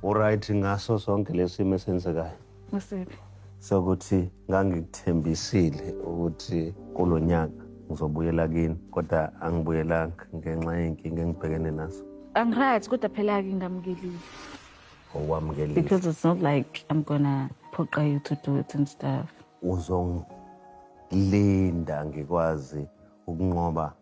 Uright ngaso sonke lesimo esenzekayo. Usiphi? Sokuthi ngangikuthembisile ukuthi kulonyaka ngizobuyela kini kodwa angibuyelanga ngenxa yenkinga engibhekene nazo. Angiright kodwa phela ke ngamkelile. Owamkelile. Because it's not like I'm gonna phoqa you to do it and stuff. Uzongilinda ngikwazi ukunqoba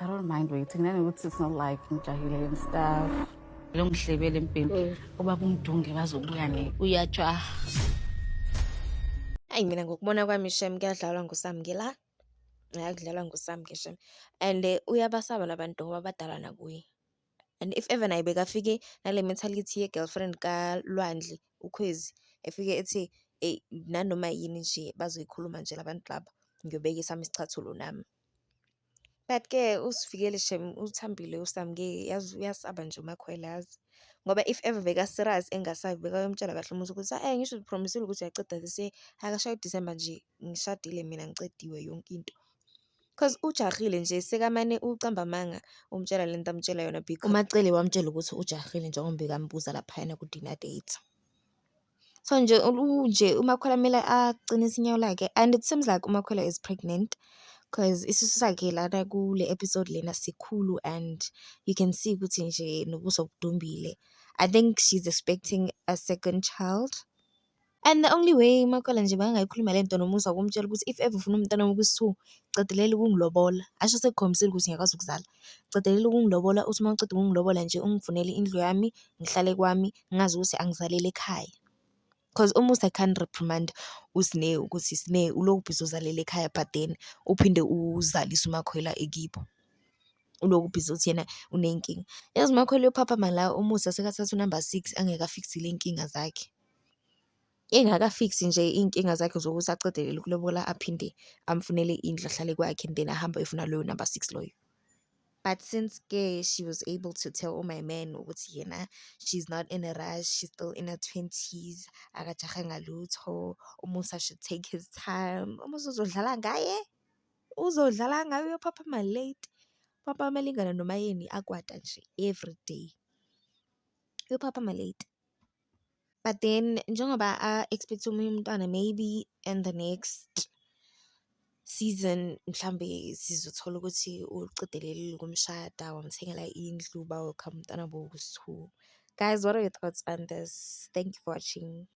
I don't mind waiting nanokuthi it's not like ngijahile and stuff lo ngihlebele embheni mm. oba kumdunge bazobuya ne uyajaha ayi mina ngokubona kwami shem kuyadlalwa ngusamngela hayi kudlalwa ngusamnge shem and eh, uyabasaba labantu ngoba badala nakuye and if ever naye bekafike nale mentality ye-girlfriend kalwandle ukhwezi efike ethi eyi nanoma yini nje bazoyikhuluma nje labantu laba ngiyobeka esami isicathulo nami But ke usivikele shem uthambile usamukeke yazi uyasaba nje uMakhwela yazi. Ngoba if ever beka-serious engasabi bekayomtshela kahle umuzi ukuthi ayi ngisho uzi-promise-ile ukuthi uyaqeda this year, akashaye uDisemba nje ngishadile mina ngiqediwe yonke into. Cause ujahile nje sekamane uqamba amanga umtshela le nto amtshela yona uMaCele wamtshela ukuthi ujahile njengoba bekambuza laphayana ku-dinner date. So nje nje uMakhwela kumele aqinise inyawo lakhe and it seems like uMakhwela is pregnant cause isisu sakhe lana kule episode lena sikhulu and you can see ukuthi nje nobuso budumbile. I think she's expecting a second child and the only way uMakhwela nje makangayikhuluma le nto noMusa ukumtshela ukuthi if ever ufuna umntwana wokusu qedelela ukungilobola. Asho sekukhombisile ukuthi ngiyakwazi ukuzala. Qedelela ukungilobola uthi uma uceda ukungilobola nje ungifunele indlu yami ngihlale kwami ngazi ukuthi angizaleli ekhaya cos almost I can't reprimand uSne ukuthi Sne ulokhu busy uzalela ekhaya but then uphinde uzalise uMakhwela ekibo. Ulokhu busy uthi yena unenkinga. Yazi uMakhwela uyophaphama la umusa sekathatha unumber six angeke afikise ley'nkinga zakhe. Engakafiksi nje iy'nkinga zakhe zokuthi aqedelele ukulobola aphinde amfunele indlu ahlale kwakhe and then ahambe ayofuna loyo number six loyo. But since ke she was able to tell my man ukuthi yena she's not in a rush, she's still in her twenties, akajahe ngalutho, uMusa should take his time. UMusa uzodlala ngaye, uzodlala ngaye uyophaphama late. Papa amalingana noma yini akwata nje everyday, uyophaphama late. but then njengoba a-expect-a omunye umntwana maybe in the next season mhlawumbe sizothola ukuthi uliqidelelile ukumshada, wamthengela indlu, bawakha umntwana bo two. Guys what are your thoughts on this? Thank you for watching.